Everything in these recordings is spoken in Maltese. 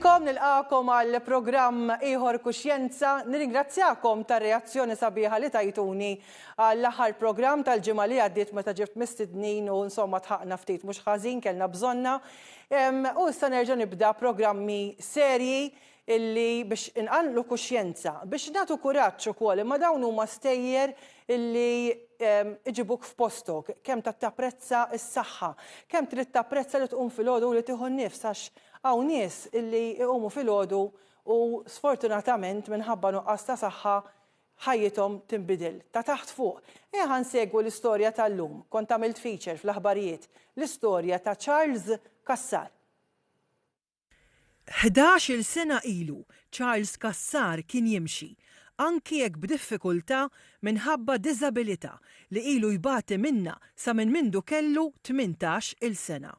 Nilqakom, nilqakom għal programm Iħor Kuxjenza. Nirringrazzjakom tar reazzjoni sabiħa li tajtuni għall aħħar programm tal-ġimgħa li għaddiet meta ġibt mistednin u insomma tħaqna ftit mhux ħażin kellna bżonna. U issa nerġa' nibda programmi serji illi biex inqanqlu kuxjenza, biex nagħtu kuraġġ ukoll, imma dawn huma stejjer illi iġibuk f'postok, kemm ta' tapprezza s-saħħa, kemm trid tapprezza li tqum filgħodu u li tieħu n-nifs għax hawn nies illi iqumu filgħodu u sfortunatament minħabba nuqqas ta' saħħa ħajjithom tinbidel ta' taħt fuq. Ejja ħa nsegwu l-istorja tal-lum, kont għamilt feature fl-aħbarijiet, l-istorja ta' Charles Cassar. Ħdax-il sena ilu, Charles Cassar kien jimxi, anki jekk b'diffikultà minħabba diżabilità li ilu jbati minnha sa minn mindu kellu tmintax il sena.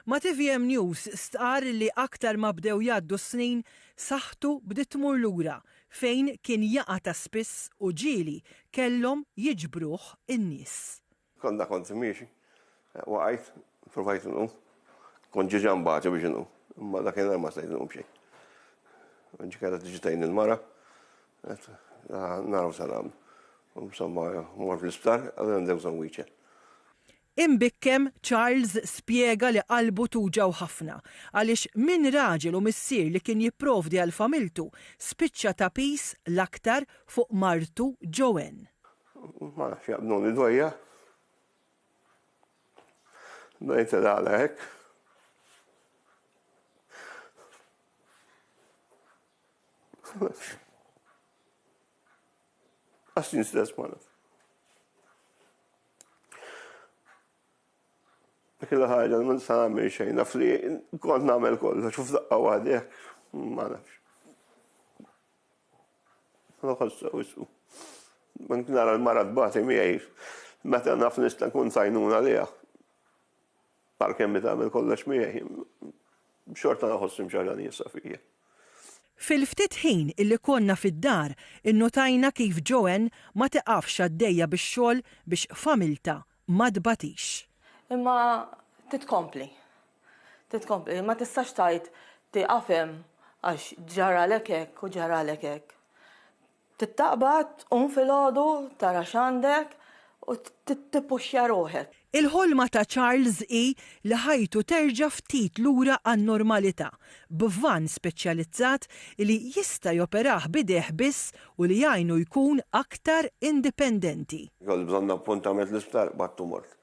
Ma' tvm News stqarr li aktar ma bdew jgħaddu s-snin, saħħtu bdiet tmur lura fejn kien jaqa' ta' spiss u ġieli kellhom jiġbruh in-nies. Konna kont miexi, waqajt, provajt nqum, kont ġieġa nbagħtu biex nqum, imma dakinhar ma stajt nqum xejn. Ġi kellha tiġi tgħin il-mara, naraw se nagħmlu. Insomma, mort fl-isptar, allura ndew bżonn wheelchair. Imbikkem Charles spjega li qalbu tuġgħu ħafna għaliex minn raġel u missier li kien jipprovdi għal familtu, spiċċa ta' piż l-aktar fuq martu Joanne. Ma nafx jaqbduni dwejja. Bdejt il-għala hekk. Għaxin stess ma nafx. Killa ħagġa ma nista' nagħmel xejn, naf li kont nagħmel kollox, xuf daqqa waħdi, ma nafx. Nħossha wisqu. Anki nara l-mara tbati miegħi meta naf nista' nkun tajnuna liha. Għalkemm hi tagħmel kollox miegħi, xorta nħoss hemm xi ħaġa nieqsa fija. Fil-ftit ħin li konna fid-dar, innutajna kif Joanne ma tiqafx għaddejja bix-xogħol biex familtha ma tbatix. Imma titkompli. Trid tkompli, ma tistax tgħid tieqaf hemm għax ġaralek hekk u ġaralek hekk. Trid taqbad, tqum filgħodu, tara x'għandek u tippuxxja ruħek. Il-ħolma ta' Charles hi li ħajtu terġa' ftit lura għan-normalità, b'vann speċjalizzat li jista' joperah b'idejh biss u li jgħinu jkun aktar indipendenti. Kelli bżonn appuntament l-isptar, b'għattu mort.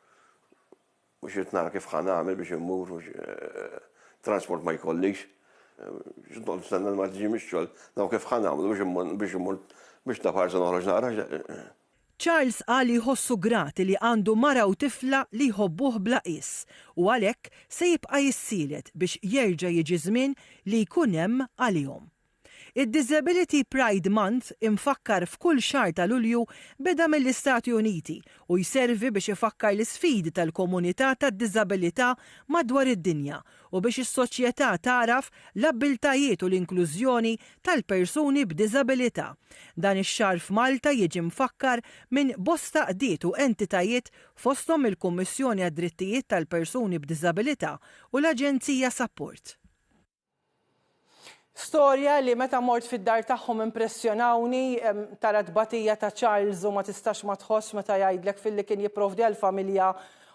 Mhux irid nara kif ħa nagħmel biex immur u x'transport ma jkollix. X'qed noqgħod nistenna li marti tiġi mix-xogħol, naraw kif ħa nagħmlu biex immur biex ta' parsa noħroġ nara. Charles qal li jħossu grat li għandu mara u tifla li jħobbuh bla qies u għalhekk se jibqa' jissielet biex jerġa' jiġi żmien li jkun hemm għalihom. Id-Disability Pride Month, imfakkar f'kull xahar ta' Lulju, beda mill-Istati Uniti u jservi biex ifakkar l-isfidi tal-komunità tad-diżabilità madwar id-dinja u biex is-soċjetà tagħraf l-abbiltajiet u l-inklużjoni tal-persuni b'diżabilità. Dan ix-xahar f'Malta jiġi mfakkar minn bosta qdiet u entitajiet fosthom il-Kummissjoni għad-Drittijiet tal-Persuni b'Diżabilità u l-Aġenzija Sapport. Storja li meta mort fid-dar tagħhom impressjonawni, tara tbatija ta' Charles u ma tistax ma tħoss meta jgħidlek filli kien jipprovdi għall-familja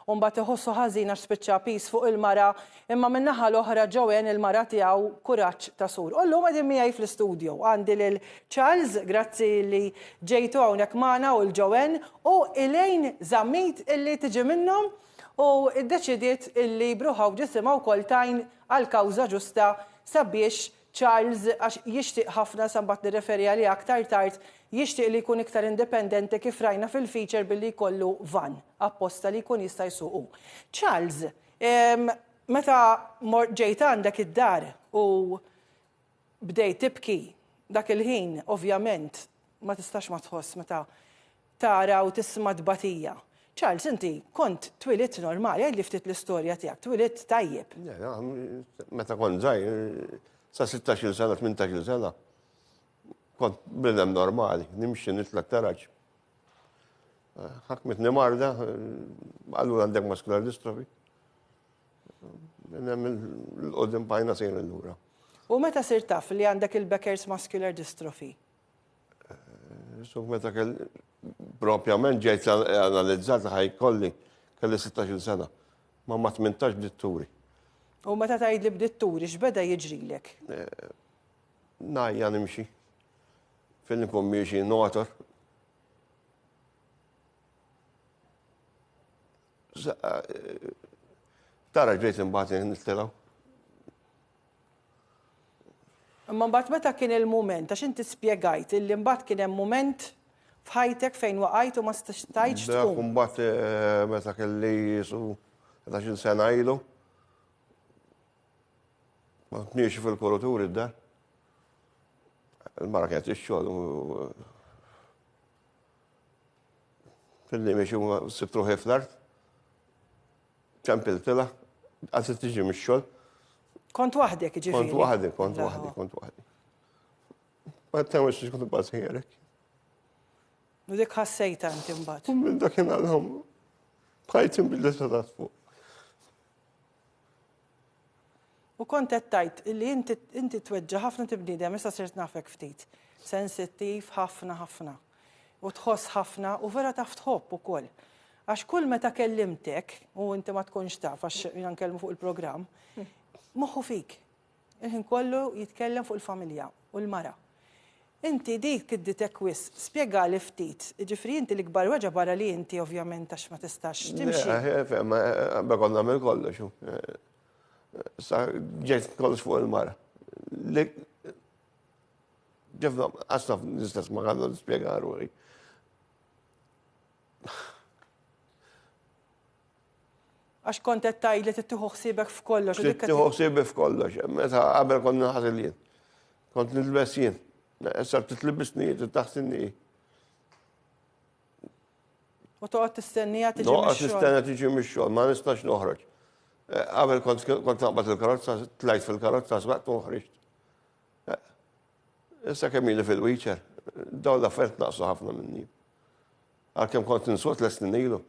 u mbagħad iħossu ħażin għax spiċċa piż fuq il-mara, imma min-naħa l-oħra Joanne il-mara tiegħu kuraġġ ta' sur. U llum qegħdin miegħi fl-istudju għandi lil Charles, grazzi li ġejtu hawnhekk magħna u l-Joanne u Elaine Zammit illi tiġi minnhom u ddeċidiet illi b'ruħha u b'ġisimha wkoll tgħin għall-kawża ġusta sabiex Charles, għax jixtieq ħafna, sa mbagħad nirreferi għaliha aktar tard, jixtieq li jkun iktar indipendenti kif rajna fil-feature billi jkollu vann apposta li jkun jista' jsuq hu. Charles, meta mort ġejt għandek id-dar u Bdejt tibki. Dak il-ħin, ovvjament, ma tistax ma tħoss meta tara u tisma' tbatija. Charles, inti kont twilidt normali, għidli ftit l-istorja tiegħek, twilidt tajjeb. Meta kont żgħir, sa sittax-il sena, tmintax-il sena, kont bniedem normali, nimxi, nitlaq taraġ. Ħakmitni marda, allura għandek muscular dystrophy. Il-qoddim pajna sejn il-lura. U meta sir taf li għandek il-Becker's Muscular Dystrophy? So meta kell propjament ġejt analizzata ħaj kolli kelli 16 sena. Ma ma 18 bdiet turi. U meta tgħid li bdiet turi x'beda jiġrilek? Najja nimxi. Fejn nkun miexi notor. Tara ġejt imbagħad jien nittilgħu. Imma mbagħad meta kien il-mument, għax inti spjegajt illi mbagħad kien hemm mument f'ħajtek fejn waqajt u ma stajtx tqum. Dak mbagħad eh, meta kelli jisu 11 sena ilu. Ma tniex fil-kurutur id-dar. Il-mara kienet ix-xogħol Fidni miex huma sibt ruħi fl-art. Ċempiltila, għazi tiġi mix-xogħol. Kont waħdek ġifieri. Kont waħdek, kont waħdek, kont waħdek. Ma temmux li kont bażi jerek. U dik ħassejta inti mbagħad. U minn dakinhar l-ħom. Bħajt imbidlet ta' fuq. U kont qed tgħid li inti inti tweġġa' ħafna inti bniedem issa sirt nafek ftit. Sensittiv ħafna ħafna. U tħoss ħafna u vera taf tħobb ukoll. Għax kull meta kellimtek, u inti ma tkunx taf għax jiena nkellmu fuq il-programm, moħħu fik. Il-ħin kollu jitkellem fuq il-familja u l-mara. Inti dik tidditek wisq. Spjegali ftit. Jiġifieri inti l-ikbar weġgħa barra li inti ovvjament għax ma tistax timxi. Le, eh, fehma, qabel kont nagħmel kollox. Sa ġejt kollox fuq il-mara. Li ġefna qasna l-istess ma għandna nispjega ruħi. Għax kont qed tgħid li tittieħu ħsiebek f'kollox. Trid tieħu ħsiebek f'kollox. Meta qabel kont naħsel jien. Kont nilbes jien. Issa titlibisni jien, taħsinni. U toqgħod tistennija tiġi mix-xogħol. Noqgħod tistenna tiġi mix-xogħol, ma nistax noħroġ. Eh, qabel kont naqbad il-karozza, tlajt fil-karozza, sbaqt u ħriġt. Eh, issa kemm fil-wheelchair, dawn l-affert naqsu ħafna minni. Għalkemm kont insur tliet snin ilu,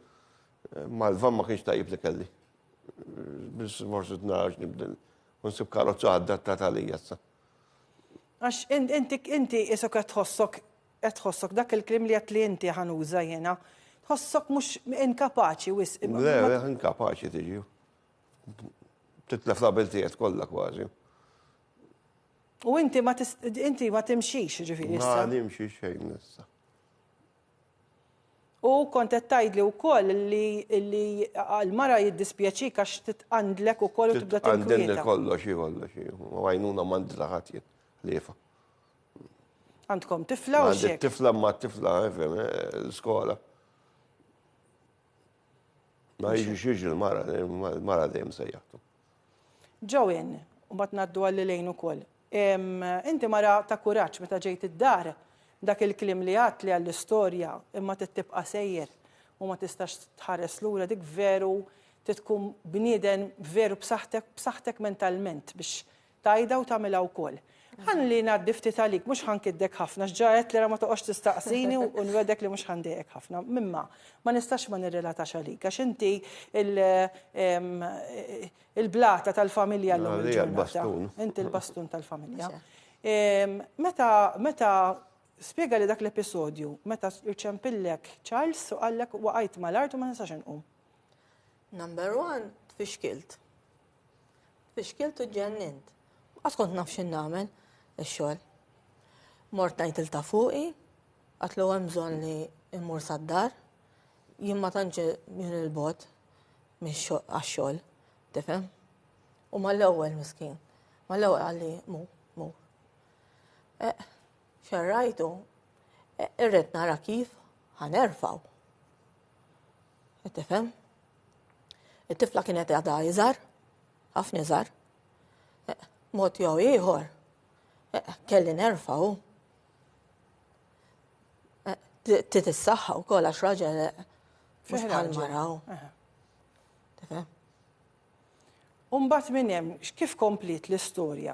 mal-van ma kienx tajjeb li kelli. Biss forsi tnarax nibdel u nsib karozza adattata għalija issa. Għax inti inti isok qed tħossok qed tħossok dak il-kliem li qed li inti ħanuża jiena. Tħossok mhux inkapaċi wisq. Le, inkapaċi tiġi. Titlef l-abiltijiet kollha kważi. U inti ma inti ma timxix jiġifieri issa. Ma nimxi xejn issa. U kont qed tgħidli wkoll li li l-mara jiddispjaċik għax titqandlek ukoll u tibda tinkwieta. Titqandilni kollox hi kollox hi. U għajnuna m'għandi laħat jien ħliefa. Għandkom tifla u xejn. Tifla ma tifla fem skola. Ma jiġi xiex il-mara, il-mara dejjem sejjaħtu. Joanne, u mbagħad ngħaddu għal Elaine ukoll, inti mara ta' kuraġġ meta ġejt id-dar, dak il-kliem li għadtli għall-istorja imma trid tibqa' sejjer u ma tistax tħares lura dik veru trid tkun bnieden veru b'saħħtek b'saħħtek mentalment biex tgħidha u tagħmilha wkoll. Ħalli ngħaddi ftit għalik, mhux ħa nkiddek ħafna, għax ġa għedtli ara ma toqgħodx tistaqsini u nwegħdek li mhux ħa ndejqek ħafna. Mimma, ma nistax ma nirrelatax għalik, għax inti l-blata tal-familja llum il-ġurnata. Inti l-bastun tal-familja. Meta spjegali dak l-episodju, meta rċempillek Charles u qallek waqajt mal-art u ma nistax inqum. Number one, tfixkilt. Fixkilt u ġġennint. Ma qatt kont naf x'in nagħmel ix-xogħol. Mort ngħid il ta' fuqi, qatlu hemm bżonn li mmur sad-dar. Jien ma tantx jien il-bot għax-xogħol, tifhem? U mal-ewwel miskin. Mal-ewwel għalli mu, mu. Eh, xerrajtu, eh, irrid nara kif ħanerfaw. Qed tifhem? It-tifla kienet għadha iżar, ħafna iżar. Eh, mod jew ieħor, eh, kelli nerfaw. Eh, Tit is-saħħa wkoll għax raġel mhux bħal maraw. Umbat minn hemm, kif kompliet l-istorja?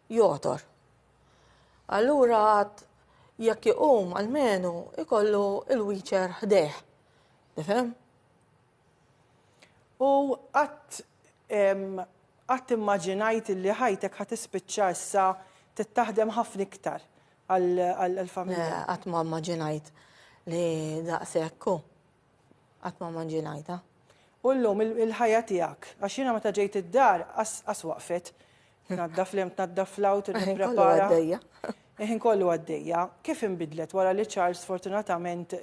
jogħtor. Allura għad jekk iqum għalmenu ikollu il-wiċer ħdejh. Tifhem? U għat għat immaġinajt li ħajtek ħat ispiċċa issa tittaħdem ħafna iktar għal-familja. Għat ma immaġinajt li daqsekku. Qatt ma ma ġie ngħidha. U llum il-ħajja tiegħek, għax jiena meta ġejt id-dar qas waqfet. Tnaddaf l-hemm, tnaddaf l-hawn, tipprepara. Il-ħin kollu għaddejja. Kif inbidlet wara li Charles sfortunatament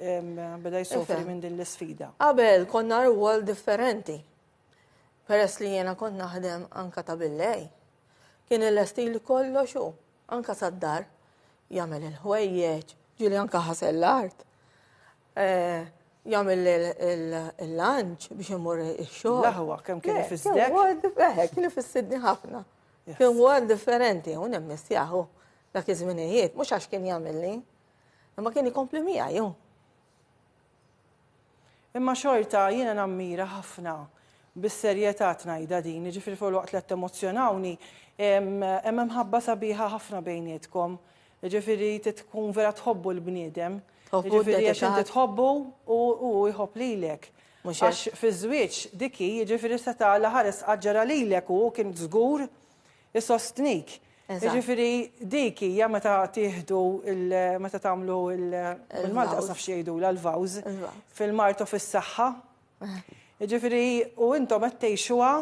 beda jsofri minn din l-isfida? Qabel konna rwol differenti. Peress li jiena kont naħdem anka ta' billej. Kien il-estil kollox u anka sad-dar jagħmel il-ħwejjeġ, ġieli anka ħasel l-art. jagħmel il-lanċ biex imur ix-xogħol. Laħwa kemm kien ifissdek? Eh, kien ifissidni ħafna. Kien huwa differenti u nemmis jaħu dak iż-żminijiet, mhux għax kien jagħmilni, imma kien ikompli miegħi. Imma xorta jiena nammira ħafna bis-serjetà tnajda din, ġifri fuq waqt li emozjonawni, hemm ħabba sabiħa ħafna bejnietkom. Jiġifieri tkun vera tħobbu l-bniedem. Jiġifieri għax inti tħobbu u hu jħobb lilek. Għax fiż-żwieġ dik hi, jiġifieri seta' Alla ħares qaġġarha lilek u hu kien żgur isostnik. Jiġifieri dik hija meta tieħdu meta tagħmlu l-Malti qas naf xi jgħidulha l-vows fil-mard u fis-saħħa. Jiġifieri u intom qed tgħixuha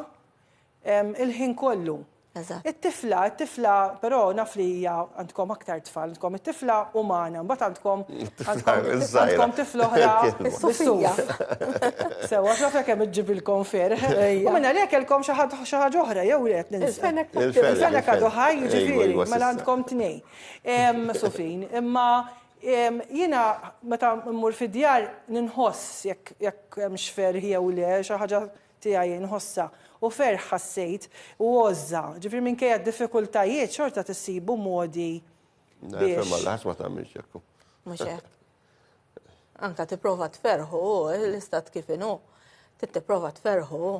il-ħin kollu. Eżatt. It-tifla, it-tifla, però naf li hija għandkom aktar tfal, għandkom it-tifla umana, mbagħad għandkom għandkom tifla oħra Sofija. Sewwa, naf jekk hemm iġġibilkom ferħ. U minn għalhekk kellkom xi ħadd xi ħaġa oħra jew le qed ninsa. Il-fenek għadu ħaj, jiġifieri, mela għandkom tnejn. Sofin, imma jiena meta mmur fid-djar ninħoss jekk hemmx ferħ jew le, xi ħaġa tiegħi nħossha, u ferħ ħassejt, u għożża. Ġifieri minkejja d-diffikultajiet xorta tissibu modi biex. Nifhem għal ħadd ma tagħmilx hekk. Mhux hekk. Anka tipprova tferħu l-istat kif inhu. Tipprova tferħu.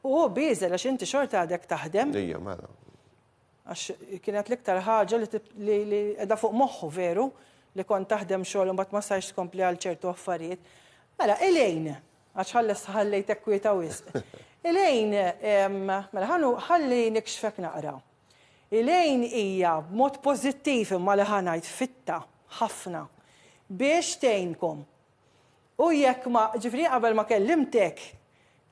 U hu bieżel għax inti xorta għadek taħdem. Ejja, mela. Għax kienet l-iktar ħaġa li qiegħda fuq moħħu veru li kont taħdem xogħol u mbagħad ma sarx tkompli għal ċertu affarijiet. Mela, Elaine, għax ħalles ħallejtek kwieta wisq. Elaine, mela ħanu ħalli nikxfek naqra. Elaine hija b'mod pożittiv imma li ħa ngħid fitta ħafna biex tgħinkom. U jekk ma, ġifieri qabel ma kellimtek,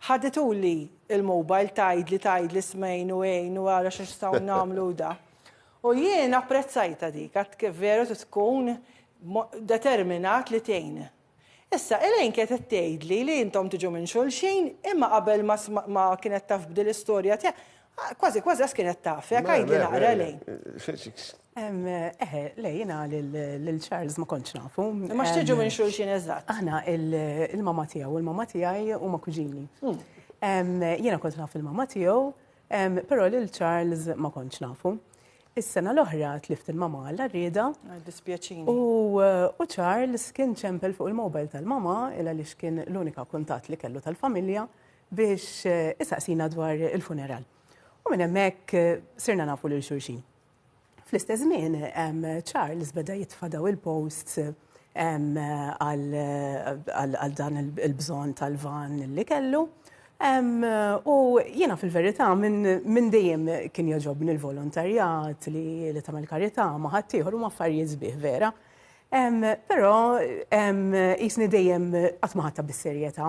ħadituli l-mobile tgħidli tgħidli smejn u għin u ara x'nistgħu nagħmlu u da. U jien apprezzajtha dik għad kif veru trid tkun determinat li tgħin. Issa, Elaine kienet qed tgħidli li intom tiġu minn xulxin, imma qabel ma kienet taf b'dil-istorja tiegħek, Ah, kważi, kważi għas kienet taf, jek għajdi naqra lej. Eħe, lej, jina l-Charles ma konċ nafu. Ma xtiġu minn xulxin eżat. Aħna, il-mama tijaw, il-mama tijaj u ma kuġini. Hmm. Jina kont naf il-mama tijaw, pero l-Charles ma konċ nafu. Is-sena l-oħra tlift il-mama għalla rrida. Ah, dispjaċini. U Charles kien ċempel fuq il-mobile tal-mama, illa li kien l-unika kuntat li kellu tal-familja. biex isaqsina dwar il-funeral. U minn hemmhekk sirna nafu lil xulxin. Fl-istess żmien Charles beda jitfadaw il-posts għal dan il-bżonn tal-van li kellu. U jiena fil-verità minn dejjem kien jogħġobni l-volontarjat li tagħmel karità ma' ħaddieħor huma affarijiet sbieħ vera. Però qisni dejjem qatt ma ħadtha bis-serjetà.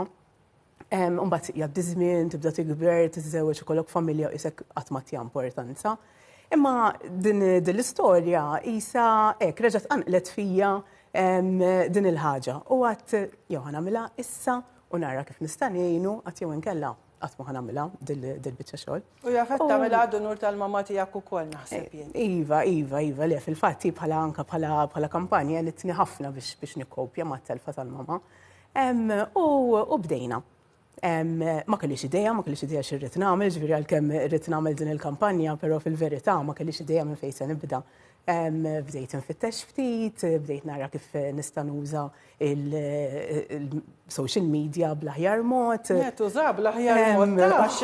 Imbagħad jgħaddi żmien, tibda tikber, tiżżewweġ ikollok familja u isek qatt ma tja importanza. Imma din l-istorja isa hekk reġgħet qanqlet fija din il-ħaġa. U għad jew ħanamilha issa u nara kif nista' ngħinu għad jew inkella qatt ma ħanamilha dil-biċċa xogħol. U jafet tagħmilha għadu nur tal-mamma tiegħek ukoll naħseb jien. Iva, iva, iva, le fil-fatt bħala anka bħala kampanja għelitni ħafna biex nikkopja mat-telfa tal-mamma. U bdejna. Ma kellix idea, ma kellix idea xirrit nagħmel, ġifieri għalkemm irrid nagħmel din il-kampanja, però fil-verità ma kellix idea minn fejn se nibda. Bdejt infittex ftit, bdejt nara kif nista' nuża l-social media bl-aħjar mod. Tuża bl-aħjar mod għax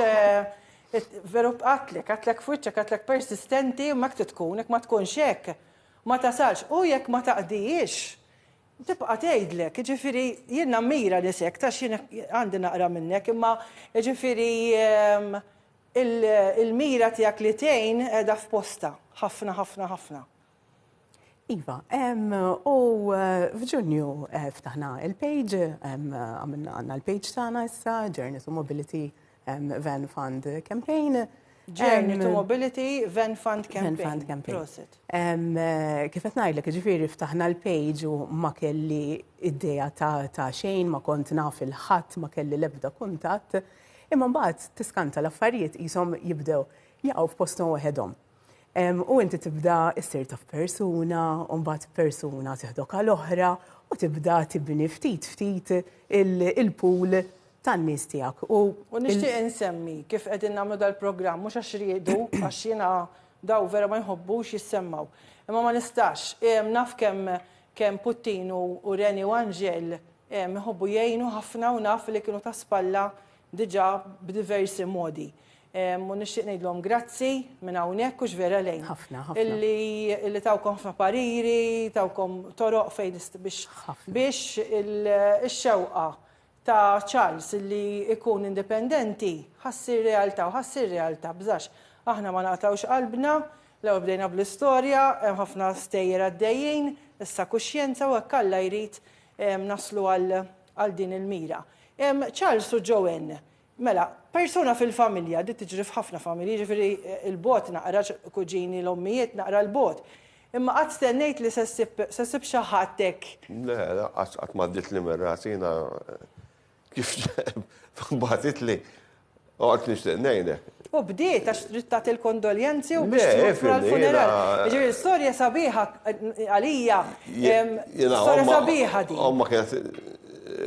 veru qatlek, qatlek f'wiċċek, qatlek persistenti, imma hekk trid tkun, jekk ma tkunx hekk ma tasalx. U jekk ma taqdihiex, Tibqa' tgħidlek, jiġifieri jien nammira nisek ta' xi għandi naqra minnek, imma jiġifieri il-mira tiegħek li tgħin qiegħda f'postha. Ħafna, ħafna, ħafna. Iva, u f'Ġunju ftaħna il-page, għamilna għandna l-page tagħna issa, Journeys u Mobility Van Fund Campaign. Journey to Mobility Van Fund Campaign. Van Fund Campaign. Kif qed ngħidlek, ġifieri ftaħna l-page u ma kelli idea ta' xejn, ma kont naf il-ħadd, ma kelli l-ebda kuntatt. Imma mbagħad tiskanta l-affarijiet qishom jibdew jaqgħu f'posthom waħedhom. U inti tibda issir taf persuna, u mbagħad persuna tiħdok għal oħra u tibda tibni ftit ftit il-pool tan-nies tiegħek. U nixtieq insemmi kif qegħdin nagħmlu dal-programm mhux għax riedu għax jiena daw vera ma jħobbux jissemmgħu. Imma ma nistax, naf kemm kemm Puttin u Reni u Anġel iħobbu jgħinu ħafna u naf li kienu ta' spalla diġà b'diversi modi. U nixtieq ngħidlhom grazzi minn hawnhekk hux vera lejn. Ħafna, ħafna. Illi li tawkom ħafna pariri, tawkom toroq fejn biex biex ix-xewqa ta' Charles illi jkun indipendenti ħa ssir realtà u ħa ssir realtà bżax aħna ma naqtgħux qalbna, l-ewwel bdejna bl-istorja, hemm ħafna stejjer għaddejjin, issa kuxjenza u hekk Alla jrid naslu għal għal din il-mira. Charles u Joanne, mela, persuna fil-familja, di tiġri f'ħafna familji, jiġifieri l-bogħod naqra, kuġini, l-ommijiet naqra l-bogħod. Imma qatt stennejt li se ssib xi ħadd hekk? Le, lanqas qatt m'għaddietli minn rasi jiena kif bagħtitli Oqgħod nixtieq ngħinek. U bdiet għax trid tagħti l-kondoljenzi u biex tmur għall-funeral. Ġifieri storja sabiħa għalija. Storja sabiħa din. Omma kienet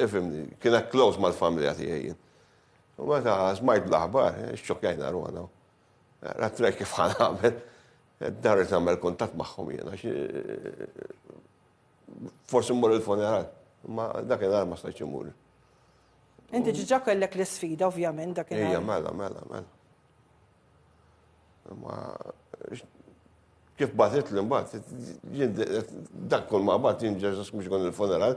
ifimni, kienet close mal-familja tiegħi jien. U meta smajt l-aħbar, eh, xċokjajna ruħna. Rat rej kif ħan għamel. Darri tagħmel kuntatt magħhom jiena. Eh, forsi mmur il-funeral. Ma dak il-għar ma stajċ imur. Inti ġiġa kellek l-sfida, ovvjament, dak il Ija, mela, mela, mela. Ma kif batit li mbagħad dak kull ma bat jien ġeżas mhux kon il-funeral.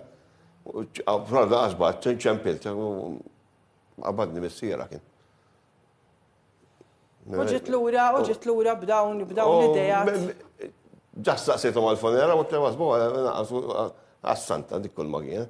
Proda għasbat, ċempilt, għabadni missiera kien. Uġit l-ura, uġit l-ura b'dawn, b'dawn l-idejat. Ġas saqsitu mal-fonera, u t-temas bo, għas-santa dik kull magħin.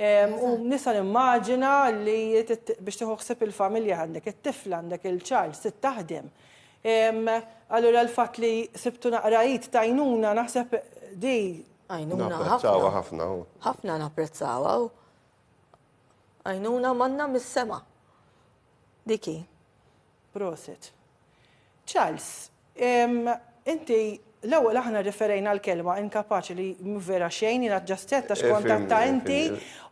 U nisa nimmaġina li biex tieħu ħsib il-familja għandek it-tifla għandek il-ċar, sit taħdem. Allura l-fatt li sibtu naqrajit tajnuna naħseb di. Għajnuna napprezzawa ħafna. Ħafna napprezzawa. Għajnuna manna mis-sema. Diki. Prosit. Charles, ehm, inti l-ewwel aħna rreferejna għall-kelma inkapaċi li mhu vera xejn, jiena ġast għedt għax kontatta inti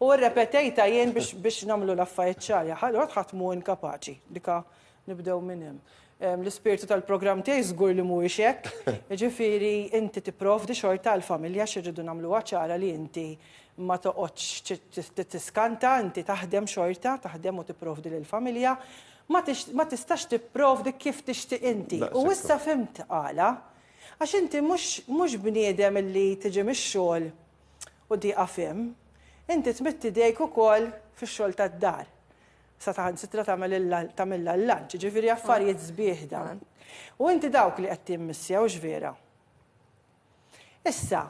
u rrepetejta jien biex nagħmlu l-affarijiet ċari. Ħadd ħadd mhu inkapaċi, dika nibdew minn hemm. Ehm, l-ispirtu tal-programm tiegħi żgur li mhuwiex hekk. Jiġifieri inti tipprovdi xorta għall-familja x'irridu nagħmluha ċara li inti ma toqgħodx tiskanta, inti taħdem xorta, taħdem u tipprovdi lill-familja. Ma tistax tipprovdi kif tixtieq inti. U issa fhimt għala. Għax inti mhux bniedem li tiġi mix-xogħol u tieqaf hemm. Inti tmidd idejk ukoll fix-xogħol tad-dar. Saħansitra tagħmilha l-lunch, jiġifieri affarijiet sbieħ dawn. U inti dawk li qed timmissja, hux vera? Issa,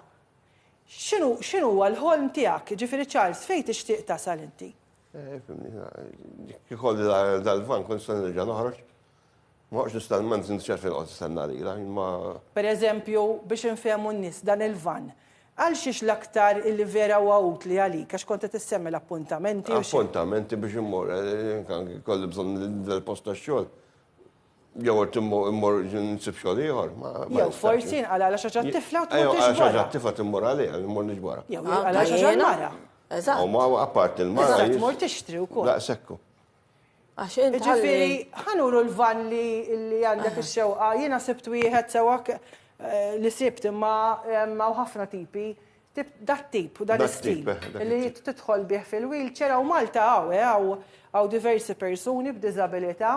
x'inhu x'inhuwa l-ħolm tiegħek? Jiġifieri Charles, fejn tixtieq tasal inti? Kikolli dal-van kont se nerġa' noħroġ. Ma noqgħodx nistenna ma nżinx xejn fejn noqgħod nistenna lilha, jien ma. Pereżempju, biex infehmu n-nies, dan il-van, għal xiex l-aktar illi vera huwa utli għalik, għax kont qed issemmi l-appuntamenti u xi. Appuntamenti biex immur, anke jkolli bżonn nidher post tax-xogħol. Jew qed immur nsib xogħol ieħor. Jew forsi jinqala għal xi ġat tifla u tmur tiġbora. Għal xi tifla timmur għalih, immur niġbora. Jew jinqala xi ġat mara. Eżatt. U ma apart il-mara. Eżatt, tmur tixtri wkoll. Daqsekku. Għax inti. Ġifieri, ħanuru l-valli li għandek ix-xewqa, jiena sibt wieħed sewwa eh, li sibt imma hawn eh, ħafna tipi dat tip u dan istil li tidħol bih fil-wheelchair u Malta għaw eh, għaw diversi persuni b'disabilità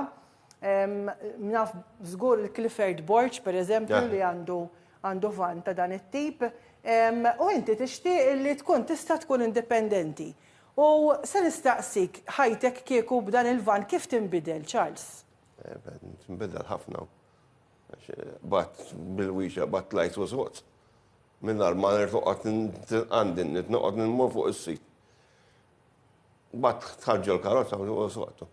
Naf żgur il-Clifford Borg, per eżempju, li għandu għandu van ta' dan it-tip. U inti tixtieq li tkun tista' tkun indipendenti. U se nistaqsik ħajtek kieku b'dan il-van kif tinbidel, Charles? Tinbidel ħafna. Għax bad bil-wiexa, bad tlajt u sod. Mingħajr ma nerġa' noqgħod nitqandin, noqgħod nmur fuq is-sit. Bad tħarġu l-karozza u sodtu.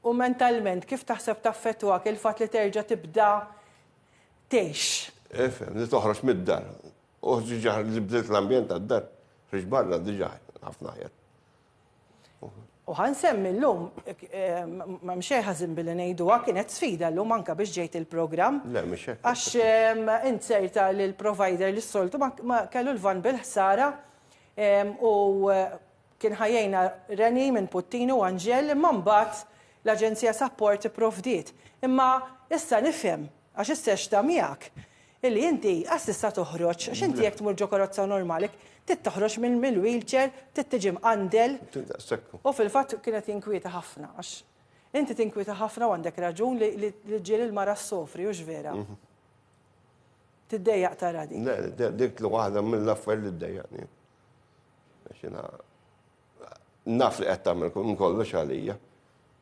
U mentalment, kif taħseb taffettwak il-fatt li terġa' tibda tgħix? Ifhem, li toħroġ mid-dar. U diġà li bdilt l-ambjent tad-dar, ħriġt barra diġà ħafna aħjar. U ħa nsemmi llum, m'hemm xejn ħażin billi ngħiduha, kienet sfida llum anke biex ġejt il-programm. Le, mhux hekk. Għax int sejrta li l-provider li s-soltu ma kellu l-vann bil-ħsara u Kien ħa jgħinha Reni minn Puttini u Anġel imma mbagħad l-Aġenzija Sapport ipprovdiet. Imma issa nifhem, għax issa x'ta miegħek, illi inti qas tista' toħroġ għax inti jekk tmur ġo karozza normali trid toħroġ mill-wheelchair, trid tiġi mqandel. U fil-fatt kien qed jinkwieta ħafna għax inti tinkwieta ħafna u għandek raġun li l-irġiel il-mara ssofri, hux vera? Tiddejjaq tara dik. Le, dik waħda mill-affarijiet li ddejjaqni. Għax jiena naf li qed tagħmel kollox għalija.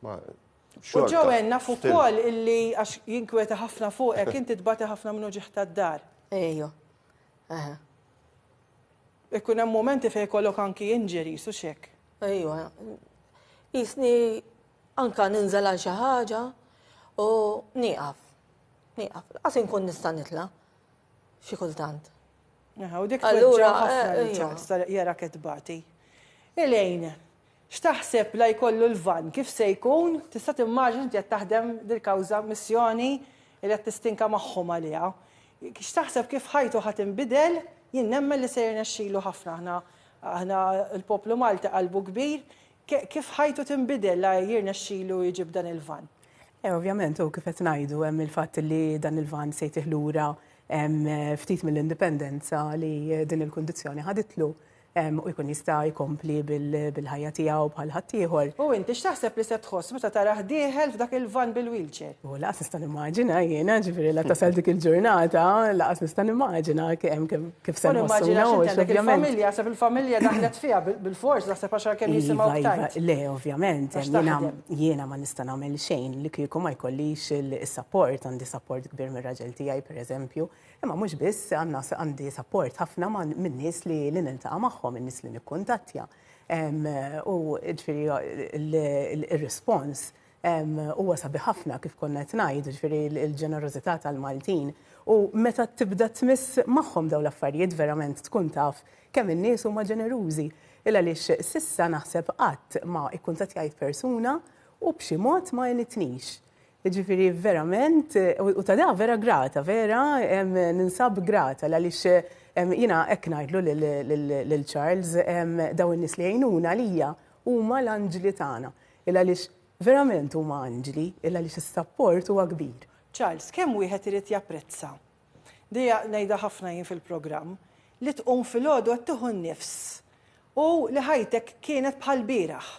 U ġowen naf ukoll illi għax jinkweta ħafna fuqek inti tbati ħafna minnu ġieħ tad-dar. Ejju. Ikun hemm momenti fejn kollok anki injuries su xek. Ejju. Jisni anka ninżel għal xi ħaġa u nieqaf. Nieqaf. Qas inkun nista' nitla' xi kultant. Aha, u dik Allura, tweġġa' ħafna eh, ija. l-ċans ta' jara ketbati. Ilejn, x'taħseb la jkollu l-van kif se jkun, tista' timmaġin inti qed taħdem dil-kawża missjoni li qed tistinka magħhom għaliha. X'taħseb kif ħajtu ħadd inbidel, jien nemmen li se jirnexxilu ħafna aħna aħna l-poplu Malti qalbu kbir, Kif ħajtu tinbidel la jirnexxilu jġib dan il-vann? Eh, ovvjament, u kif qed ngħidu hemm il-fatt li dan il-vann se jtih lura ftit mill-indipendenza li din il-kundizzjoni ħaditlu u jkun jista' jkompli bil-ħajja tiegħu bħal ħaddieħor. U inti x'taħseb li se tħoss meta tarah dieħel f'dak il-van bil-wheelchair? U laqas nista' nimmaġina jiena ġifieri la tasal dik il-ġurnata, laqas nista' nimmaġina kemm kemm Kif se nħossuna u x'għandek il-familja, se fil-familja daħlet fiha bil-fors naħseb għax għalkemm jisimgħu iva, iva, tajt. Le, ovvjament, jiena ma nista' nagħmel xejn li kieku ma jkollix il-sapport, għandi sapport kbir mir-raġel tiegħi pereżempju, imma mhux biss għandna għandi sapport ħafna minn nies li niltaqa' magħhom, in-nies li nikkuntattja. U ġifieri il-rispons Huwa sabiħ ħafna kif konna qed ngħid, ġifieri l-ġenerożità tal-Maltin. U meta tibda tmiss magħhom dawn l-affarijiet verament tkun taf kemm in-nies huma ġenerużi. Il għaliex s'issa naħseb qatt ma ikkuntattjajt persuna u b'xi mod ma għenitnix. Ġifieri verament u ta' da vera grata, vera ninsab grata l għaliex jiena hekk ngħidlu lil Charles dawn in-nies li jgħinuna għalija huma l-anġli tagħna. Il għaliex verament huma anġli, il għaliex is-sapport huwa kbir. Charles, kemm wieħed irid japprezza, dejja ngħidha ħafna jien fil-programm, li tqum filgħodu qed tieħu n-nifs u li ħajtek kienet bħal bieraħ.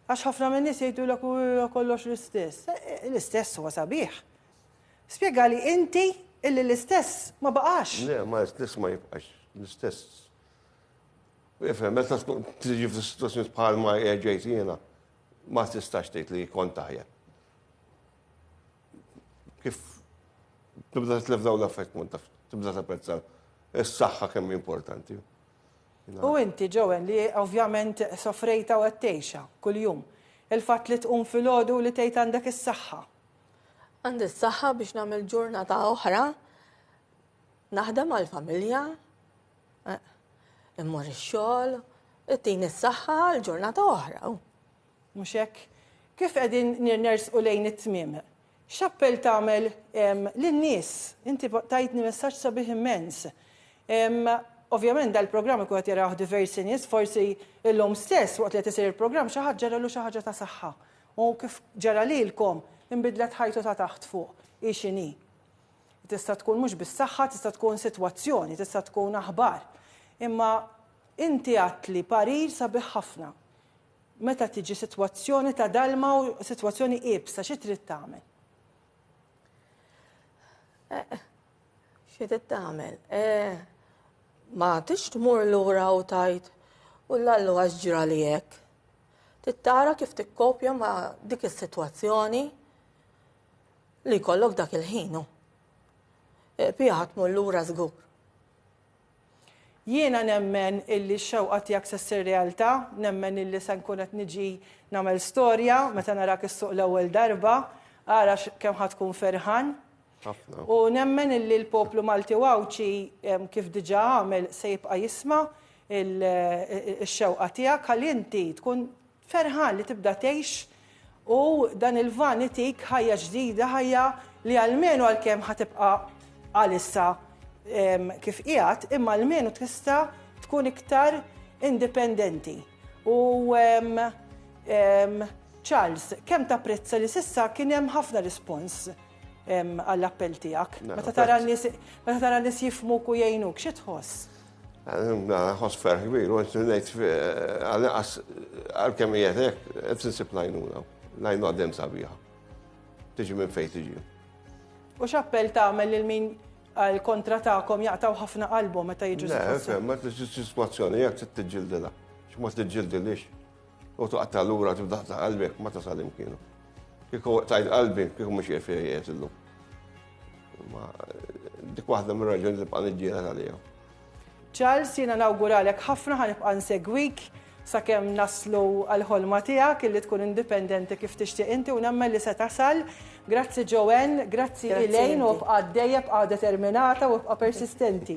Għax ħafna min-nies jgħidulek huwa kollox l-istess. L-istess huwa sabiħ. Spjegali inti illi l-istess ma baqax. Le, ma l-istess ma jibqax. L-istess Ifhem, meta tkun tiġi f'sitwazzjoni bħal ma ġejt jiena, ma tistax tgħid li kont taħjeb. Kif tibda tlef dawn l-affett kont taf, tibda tapprezza s-saħħa kemm importanti. U inti ġowen li ovvjament sofrejta u qed tgħixha kuljum. Il-fatt li tqum filgħodu li tgħid għandek is-saħħa. Għandi s-saħħa biex nagħmel ġurnata oħra, naħdem għall-familja, Immur ix-xogħol, ittini s-saħħa għal ġurnata oħra. Mhux hekk? Kif qegħdin nirnersqu lejn it-tmiem, x'appell tagħmel lin-nies? Inti tajtni messaġġ sabiħ immens. Ovvjament dal-programm ikun qed jaraw diversi nies, forsi illum stess waqt li qed isir il-programm xi ħadd ġaralu xi ħaġa ta' saħħa. U kif ġara lilkom, inbidlet ħajtu ta' taħt fuq, hi x'inhi. Tista' tkun mhux biss saħħa, tista' tkun sitwazzjoni, tista' tkun aħbar. Imma inti għadtli parir sabiħ ħafna. Meta tiġi sitwazzjoni ta' dalma u sitwazzjoni iebsa, xi trid tagħmel? Eh, xi trid tagħmel? Eh, ma tix tmur lura u tajt u l-allu għax ġra li hekk. Tittara kif tikkopja ma dik is-sitwazzjoni li jkollok dak il-ħin hu. Pija ħa tmur lura żgur. Jiena nemmen illi x-xewqa tiegħek se ssir realtà, nemmen illi se nkun qed niġi nagħmel storja meta narak is-suq l-ewwel darba, ara kemm ħa tkun ferħan. Ħafna. U nemmen illi l-poplu Malti u Għawdxi kif diġà għamel se jibqa' jisma' x-xewqa tiegħek ħalli inti tkun Ferħan li tibda tgħix u dan il-van itik ħajja ġdida, ħajja li almenu għalkemm ħa tibqa' għalissa kif qiegħed, imma almenu tista' tkun iktar indipendenti. U Charles, kemm tapprezza li s'issa kien hemm ħafna rispons għall-appell tiegħek. Meta tara n-nies jifhmuk u jgħinuk, xi tħoss? Nħoss ferħ kbir, u ngħid għal-inqas għal-kemm qiegħed hekk qed insib lajnuna. Lajnu għaddem sabiħa. Tiġi minn fejn tiġi. U x'appell tagħmel lil min għal kontra tagħkom jaqtaw ħafna qalbhom meta jiġu. Le, ma tistgħu sitwazzjoni jekk trid tiġġildilha. X'ma tiġġildilix. U tuqatta l-ura tibdaħta qalbek ma tasal imkienu. Kiku tajt qalbi, kiku mux jirfi jies illum. Ma dik waħda minn raġuni li bqan iġġiela tal-jew. Charles, jina nawguralek ħafna ħanibqa' nsegwik sakemm naslu għal-ħolma tiegħek illi tkun indipendenti kif tixtieq inti u nemmen li se tasal. Grazzi Joanne, grazzi Elaine u bqa' dejjeb bqa' determinata u bqa' persistenti.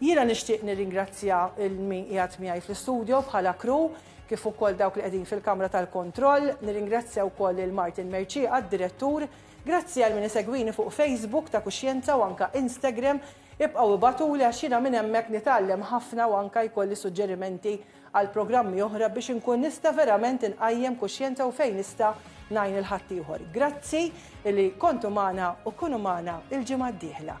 Jiena nixtieq nirringrazzja lil min qiegħed miegħi fl-istudio bħala crew kif ukoll dawk li qegħdin fil-kamra tal-kontroll, nirringrazzja wkoll lil Martin Mercieqa, d-Direttur. Grazzi għal min isegwini fuq Facebook ta' Kuxjenza u anke Instagram. Ibqgħu ibagħtuli għax jiena minn hemmhekk nitgħallem ħafna u anke jkolli suġġerimenti għal programmi oħra biex inkun nista' verament inqajjem kuxjenza u fejn nista' ngħin lil ħaddieħor. Grazzi li kontu magħna u kunu magħna l-ġimgħa d-dieħla.